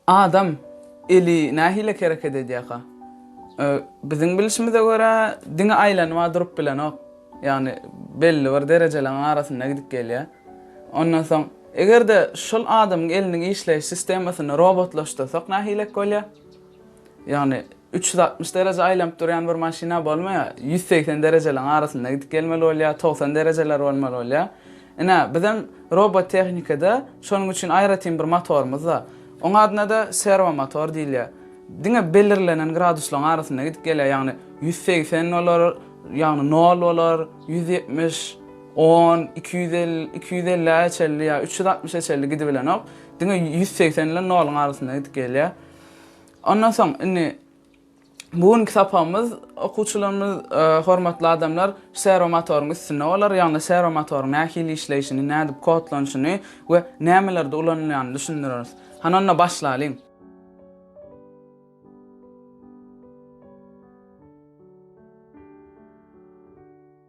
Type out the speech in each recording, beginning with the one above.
Adam eli nähili hereket edýärka? Biziň bilişimize görä, diňe aýlanyp-a durup bilenok. Ýagny belli bir derejeleň arasynda gidip gelýär. Ondan soň. Eger-de şol adamyň eliniň işleýiş sistemasyny robotlaşdyrsak nähilek bolýar? Ýagny üç ýüz altmyş dereje aýlanyp durýan bir maşyna bolmaýar, ýüz segsen derejeliň arasynda gidip gelmeli bolýar, togsan derejeler bolmaly bolýar. Ine, bizem robot tehnikada şonuň üçin aýratyn bir motorymyz bar. Oň adyna-da serwo motor diýilýär. Diňe belirlenen graduslaryň arasynda gidip gelýär, ýagny ýüz segsen bolar, ýagny nol bolar, ýüz ýetmiş, On, iki ýüz elli, iki ýüz ellä çenli ýa üç ýüz altmyşa çenli gidibilenok. Diňe ýüz segsen bilen noluň arasynda gidip gelýär. Ondan soň, indi bu günki sapagymyz, okuwçylarymyz, e, hormatly adamlar, serwomotoryň üstünde bolar, ýagny serwomotoryň nähili işleýşini, nädip kodlanyşyny we nämelerde ulanylýanyny düşündireris. Hany onda başlalyň.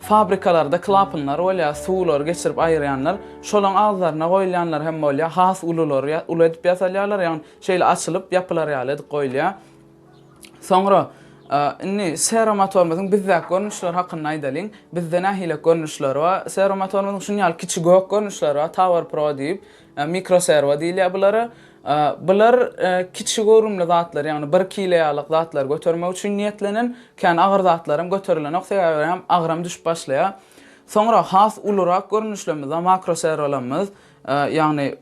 Fabrikalarda klapynlar bolýar, suwlary geçirip aýyrýanlar. Şolaň agzlaryna goýulýanlar hem bolýar. Has ululary ýa uly edip ýasalýarlar, ýagny şeýle açylyp, ýapylar ýaly edip goýulýar. Soňra, indi seromotorumyzyň bizdäki görnüşleri hakynda aýdalyň. Bizde nähili görnüşleri bar? Seromotorumyzyň şuny ýaly kiçi gök görnüşleri bar, Tower Pro diýip. Mikroserwa diýilýär bulara. Bular kiçi göwrümli zatlar, ýagny bir kile ýalyk zatlary götermek üçin niýetlenen. Kän agyr zatlaram göterilenok, sebäbi hem agram düşüp başlaýar. Soňra has ulurak görnüşlerimiz bar, makroserwalarymyz. Ýagny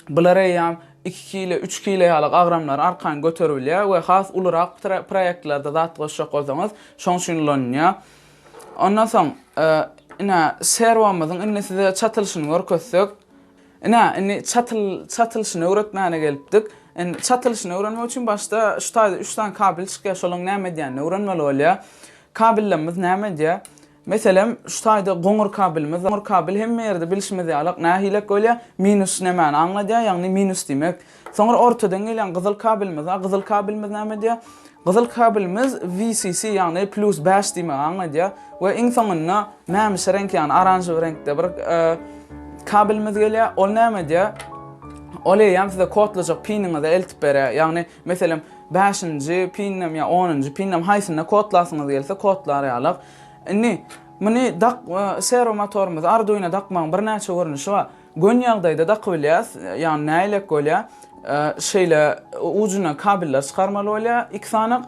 bular eýýäm iki kile, üç kile ýalyk agramlary arkaýyn göteribilýär we has ulurak proýektlerde zat goşjak bolsaňyz, şoň üçin ulanylýar. Ondan soň, ine, serwomyzyň indi size çatylyşyny görkezsek. Ine, indi çatylyşyny öwretmäne gelipdik. Indi çatylyşyny öwrenmek üçin başda şu taýda üç sany kabel çykýar, şolaryň näme edýänini öwrenmeli bolýar. Kabellerimiz näme edýär? Meselem, şu taýda goňur kabelimiz bar. Goňur kabel hemme ýerde bilşimiz ýalak, nähilek bolýar? Minus nämäni aňladýar? Ýagny minus diýmek, Soňra ortadan gelýän gyzyl kabelimiz bar. Gyzyl kabelimiz näme edýär? Gyzyl kabelimiz VCC, ýagny plus bäş diýmegi aňladýar we iň soňunda mämişi reňk, ýagny oranžowy reňkde bir kabelimiz gelýär. Ol näme edýär? Ol eýýäm size kodlajak piniňize eltip berýär. Ýagny, meselem, bäşinji pindem ýa onunjy pindem haýsynda kodlasyňyz gelse kodlar ýaly. Indi muny dak, serwo motorymyzy Arduino dakmagyň birnäçe görnüşi bar. Gön ýagdaýda dakybilýäs, ýagny näilek bolýa, şeýle ujuna kabellar çykarmaly bolýa iki sanak,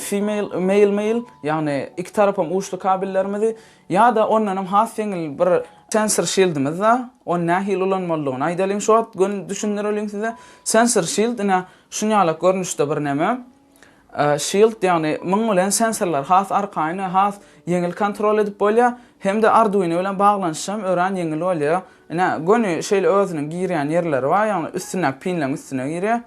female, male male, ýagny iki tarapam uçly kabellerimizi, ýa-da ondanam has ýeňil bir sensor şildimiz bar, ony nähili ulanmalydygyny aýdalyň şu wagt gön düşündireliň size, sensor şild ine şunýalak görnüşde bir näme, Shield, ýagny muň bilen sensorlary has arkaýyn we has ýeňil kontrol edip bolýar, hem-de Arduino bilen baglanyşam örän ýeňil bolýar. Ine, göni şeýle özüniň girýän ýerleri bar, ýagny üstündäki pinleň üstüne girýär.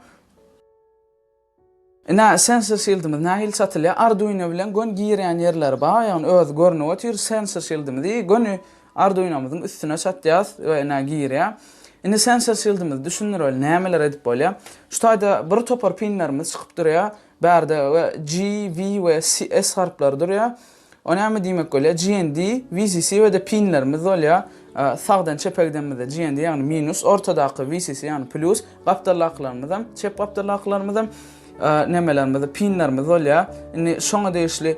Ine, sensor shildimiz nähili satylýar. Arduino bilen göni girýän ýerleri bar, ýagny özi görnüp otyr, sensor shildimizi göni Arduinomyzyň üstüne çatýas we ine girýä. Indi sensor şildimizi düşündireli nämeler edip bolýa. Şu taýda bir topar pinlerimiz çykyp durýa. Bärde we G, V we S harplary durýa. O näme diýmek bolýa? GND, VCC we-de pinlerimiz bolýa. Sagdan çepe gidenimizde GND ýagny minus, ortadaky VCC ýagny plýus, gapdaldakylarymyzam, çep gapdaldakylarymyzam nämelerimiz, pinlerimiz bolýa. Indi şoňa degişli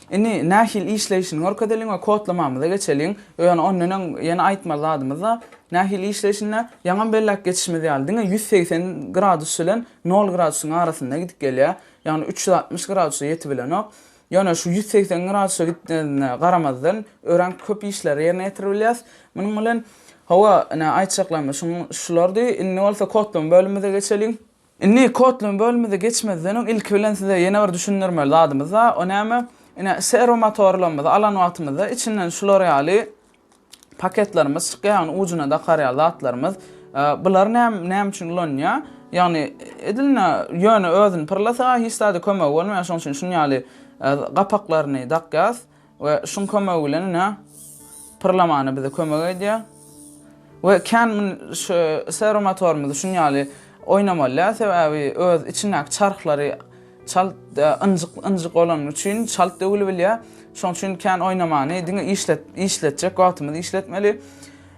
Indi nähili işleýşini görkezeliň we kodlamamyza geçeliň. Ýöne ondan öň ýene aýtmaly zadymyz bar. Nähili işleýşini-de, ýaňam belläp geçişimiz ýaly, diňe ýüz segsen gradus bilen nol gradusyň arasynda gidip gelýär. Ýagny üç ýüz altmyş gradusa ýetibilenok. Ýöne şu ýüz segsen gradusa gitmezine garamazdan, örän köp işleri ýerine ýetiribilýäs munuň bilen. Hawa, ine, aýtjaklarymyz şulardy. Indi bolsa kodlama bölümimize geçeliň. Indi Kotlin bölümimize geçmezden öň ilki bilen size ýene bir düşündirmeli zadymyz bar, o näme? Ine, serwo motorlarymyzy alan wagtymyzda içinden şular ýaly paketlerimiz çykýar, ýagny ujuna dakar ýaly zatlarymyz. Bular näme üçin ulanylýar? Ýagny edilne ýöne özüni pyrlasa hiç zada kömegi bolmaýar, şonuň üçin şuny ýaly gapaklaryny dakýarys. We şuň kömegi bilen ine pyrlamana bize kömek edýär. We kän mun şu servo motorymyzy şun ýaly oýnamalýar, sebäbi öz içindäki çarhlary çalt ynjyk ynjyk bolany üçin çalt döwülibilýär. Şoň üçin kän oýnamany diňe işlet işletjek wagtymyz işletmeli.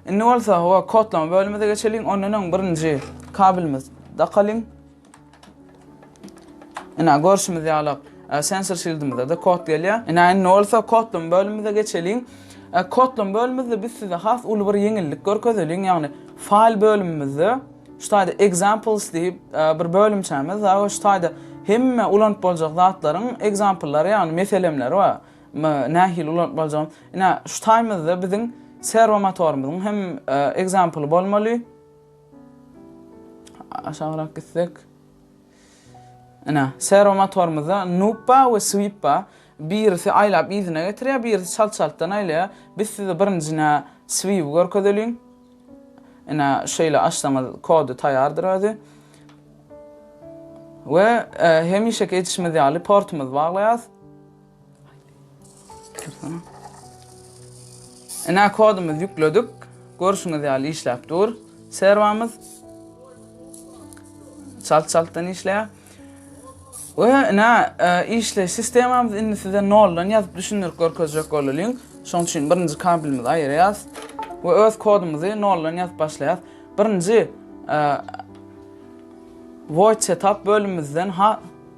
Indi bolsa howa kodlama bölümimize geçeliň. Ondan öň birinji kabelimiz dakalyň. Ina görşümiz ýaly sensor şildimizde-de kod gelýär. Ina indi bolsa kodlama bölümimize geçeliň. Kodlama bölümimizde biz size has uly bir ýeňillik görkezeliň, ýagny faýl bölümimizde şu taýda examples diýip bir bölümçämiz bar we şu taýda hemme ulanyp boljak zatlaryň example-lary ýagny meselemleri bar. Nähili ulanyp boljagyny. Ina şu taýmyzda biziň serwo motorymyzyň hem example bolmaly. Aşagrak gitsek. Ine, serwo motorymyzda Nuppa we Swippa birisi aýlap yzyna getirýär, birisi çalt-çaltdan aýlaýar. Biz size birinji nä Swiwi görkezeliň. Ine, şeýle açsaňyz kody taýýardyr özi. We hemişeki edişimiz ýaly portumyzy baglaýarys. Ine kodumyzy ýükledik. Görşüňiz ýaly işläp dur serwamyz. Çalt-çaltdan işleýär. We ine işleýiş sistemamyzy indi size noldan ýazyp düşündirip görkezjek bolalyň. Şonuň üçin birinji kabelimizi aýyrýas we öz kodumyzy noldan ýazyp başlaýas. Birinji void setup bölümimizden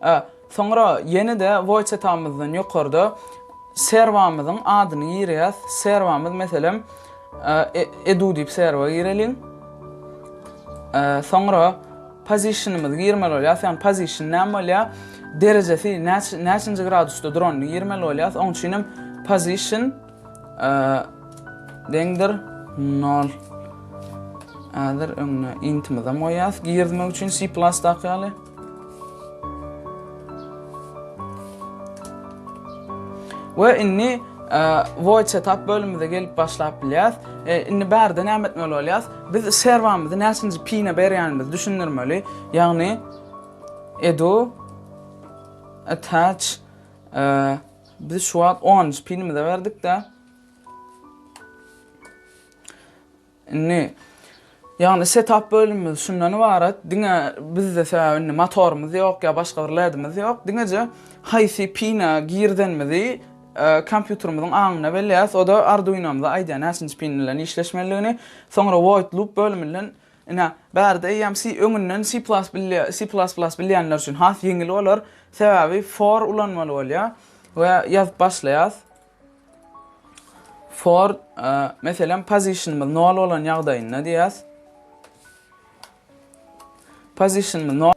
A. Soňra ýene-de Woýçetamyzdan ýokarda serwamyzyň adyny girýäs. Serwamyz, meselem, e, edu diýip serwa gireliň. E, soňra positionymyzy girmeli bolýas. Ýagny position näme bolýar? Derejesi näçe näçinji gradusda duranyny girmeli bolýas. Oň üçin hem position deňdir nol. Häzir öňüne intimizi hem goýýas. Girizmek üçin C++ daky ýaly. We indi void setup bölümimize gelip başlap bilýäs. E, indi bärde näme etmeli bolýas? Biz serwamyzy näçinji pine berýänimizi düşündirmeli. Ýagny edu attach e, Biz şu wagt onunjy pilimize berdik-de. Indi, ýagny setap bölümimiz şundan ybarat, diňe bizde sebäbi indi motorymyz ýok ýa başga bir ledimiz ýok, diňeje haýsy pine girdenimizi kompýuterimiziň aňyna belleýäs, o-da Arduinomyza aýdýar näçinji pin bilen işleşmelidigini, soňra void loop bölüminden Ine, bärde eýýäm C öňünden C++ bilýänler üçin has ýeňil bolar, sebäbi for ulanmaly bolýar we ýazyp başlaýas. For, meselem, position-ymyz nol bolan ýagdaýynda diýýäs. Position-ymyz nol.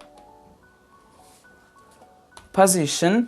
Position.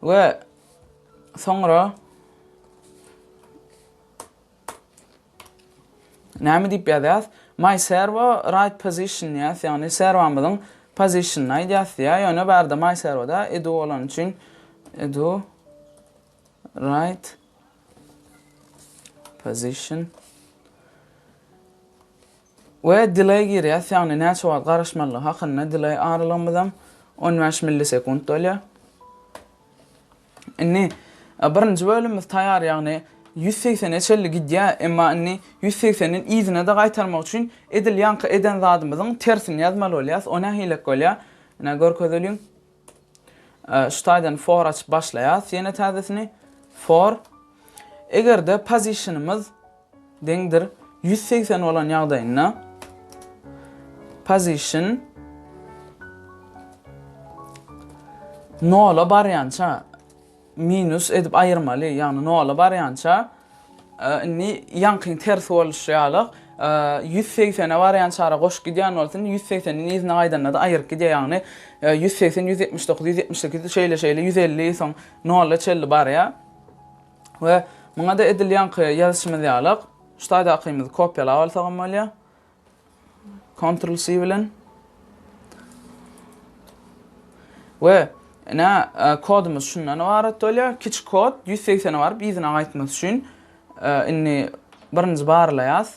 We soňra näme diýip ýazýas? My servo right position diýýäs, ýagny serwamyzyň pozisionyny aýdýas diýýär. Ýöne barda my servoda edu bolany üçin edu right position We delay girýäs, ýagny näçe wagt garaşmalydygy hakynda delay aralygymyzam on bäş millisekunt bolýar. Indi birinji bölümimiz taýýar, ýagny ýüz segsene çenli gidýär, emma indi ýüz segsenden yzyna-da gaýtarmak üçin edil ýaňky eden zadymyzyň tersini ýazmaly bolýas, o nähilek bolýar? Ine görkezeliň. Şu taýdan for açyp başlaýas ýene täzesini. For Eger-de position-ymyz deňdir ýüz segsen bolan ýagdaýynda position nola barýança Minus edip aýyrmaly, ýagny nola barýança, indi ýaňkyň tersi boluşy ýaly, ýüz segsene barýançara goşup gidýän bolsa, indi ýüz segseniň yzyna gaýdanda-da aýryp gidýär, ýagny ýüz segsen, ýüz ýetmiş dokuz, ýüz ýetmiş sekiz, şeýle-şeýle ýüz elli, soň nola çenli barýar. We muňa-da edil ýaňky ýazyşymyz ýaly, şu taýdakymyzy kopýalap alsagam bolýar. Kontrol C bilen. We ine kodumuz şundan ybarat bolýar. Kiçi kod 180-e baryp yzyna gaýtmak üçin indi birinji barlaýas.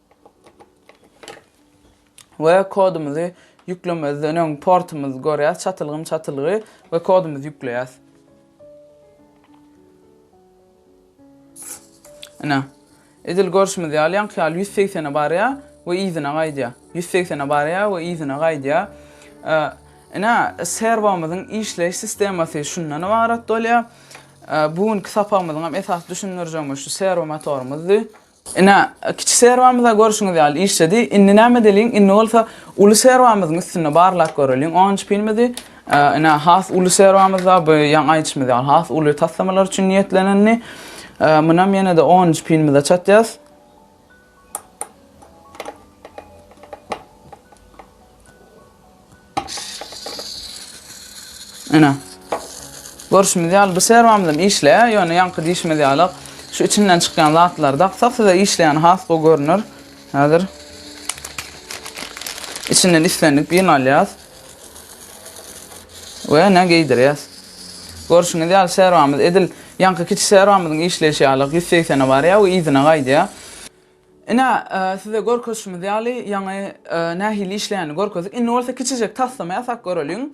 we kodumyzy ýüklemezden öň portumyzy görýäs, çatylgym çatylgy we kodumyzy ýükleýäs. Ine, edil görşümiz ýaly, ýaňky ýaly ýüz segsene barýar we yzyna gaýdýar. Ýüz segsene barýar we yzyna gaýdýar. Ine, serwomyzyň işleýiş sistemasy şundan ybarat bolýar. Bu günki sapagymyzyň hem esasy düşündirjegimiz şu serwo motorymyzdy. Ine, kiçi serwamyz-a görşüňiz ýaly işledi. Indi näme edeliň? Indi bolsa uly serwamyzyň üstünde barlap göreliň. Onunjy pilimizi, ine, has uly serwamyz-a bu ýaňy aýdyşymyz ýaly has uly taslamalar üçin niýetlenendi. Munam ýene-de onunjy pilimize çatýas. Ene. Görşümiz ýaly bu serwamyzam işleýär, ýöne ýaňky diýşimiz ýaly şu içinden çykýan zatlary daksak size işleýäni has gowy görner. Häzir içinden islendik birini alýas. We ene geýdirýäs. Görşüňiz ýaly serwamyz edil ýaňky kiçi serwamyzyň işleýşi ýaly 180-e barýar we yzyna gaýdýar. Ine, size görkezişimiz ýaly, ýaňy nähili işleýänini görkezdik. Indi bolsa kiçijek taslama ýasap göreliň.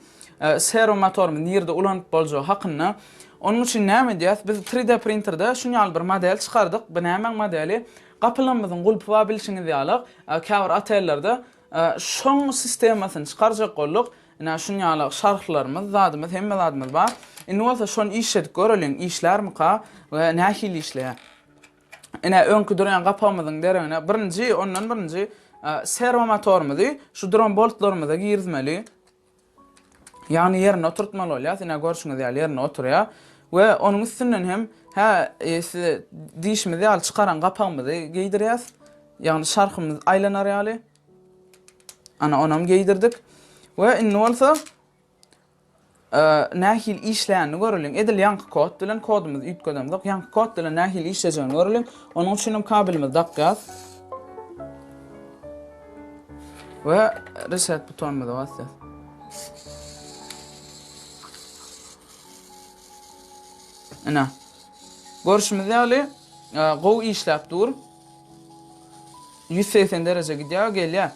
Serwo motorymyzy nirde ulanyp boljagy hakynda. Onuň üçin näme edýäs? Biz tri D printerde şun ýaly bir model çykardyk. Bu nämäň modeli? Gapylarymyzyň gulpy bar bilşiňiz ýaly. Käbir otellerde şoň sistemasyny çykarjak bolduk. Ine, şun ýaly şarflarymyz, zadymyz, hemme zadymyz bar. Indi bolsa şony işledip göreliň, işlärmika we nähili işleýär? Ine, öňki durýan gapawymyzyň deregine birinji, ondan birinji serwo motorymyzy şu duran boltlarymyza girizmeli. Ýagny ýerine oturtmaly bolýar. Ine, görşüňiz ýaly ýerine oturýar. We onuň üstünden hem hä size diýişimiz ýaly çykaran gapawymyzy geýdirýäs. Ýagny şarhymyz aýlanar ýaly. Ana, onam geýdirdik. We indi bolsa Nähili işleýänini göreliň. Edil ýaňky kod bilen, kodumyzy üýtgedemzok. Ýaňky kod bilen nähili işlejegini göreliň. Onuň üçin hem kabelimizi dakýas. We reset butonymyza basýas. Ine. Görşümiz ýaly, gowy işläp dur. Ýüz segsen dereje gidýär, gelýär.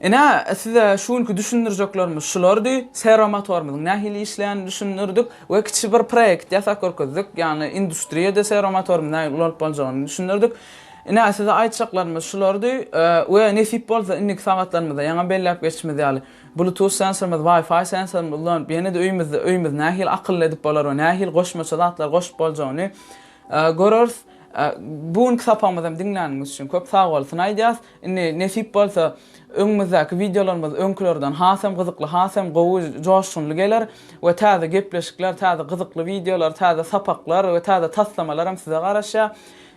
Ine, size şu günki düşündirjeklerimiz şulardy. Seromotorymyzyň nähili işleýänini düşündirdik we kiçi bir proýekt ýasap görkezdik. Ýagny industriýada seromotorymyz nähili ulanyp boljagyny düşündirdik. Ine, size aýtjaklarymyz şulardy we nesip bolsa indiki sagatlarymyzda ýaňa belläp geçişimiz ýaly, bluetooth sensorymyzy, wi-fi sensorymyzy ulanyp, ýene-de öýümizde öýümizi nähili akylly edip bolar we nähili goşmaça zatlar goşup boljagyny göreris. Bu günki sapagymyzam diňläniňiz üçin köp sag bolsun aýdýas. Indi nesip bolsa öňümizdäki wideolarymyz öňkülerden hasam gyzykly hasam gowy joşgunly geler we täze gepleşikler täze gyzykly wideolar täze sapaklar we täze taslamalaram size garaşýar.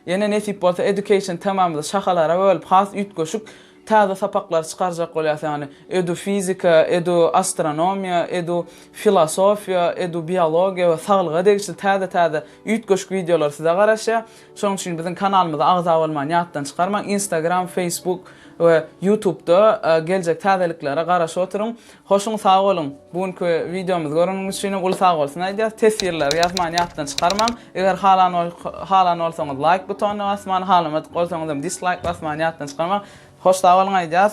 Ýene nesip bolsa education temamyzy şahalara bölüp has üýtgeşik Täze sapaklary çykarjak bolýas ýagny edu fizika, edu astronomiýa, edu filosofiýa, edu biologiýa we saglyga degişli täze täze üýtgeşik wideolar size garaşýa. Şonuň üçin biziň kanalymyza agza bolmany ýatdan çykarmaň. Instagram, Facebook we Youtubda geljek täzeliklere garaşyp oturyň. Hoşuň sag boluň! Bu günki wideomyzy göreniňiz üçinem uly sagbolsun aýdýas! Teswirleri ýazman ýatdan çykarmaň! Eger halan halan bolsaňyz laýk butonyna basmany, halamadyk bolsaňyzam dislaýk basmany ýatdan çykarmaň! Hoş sag boluň aýdýas!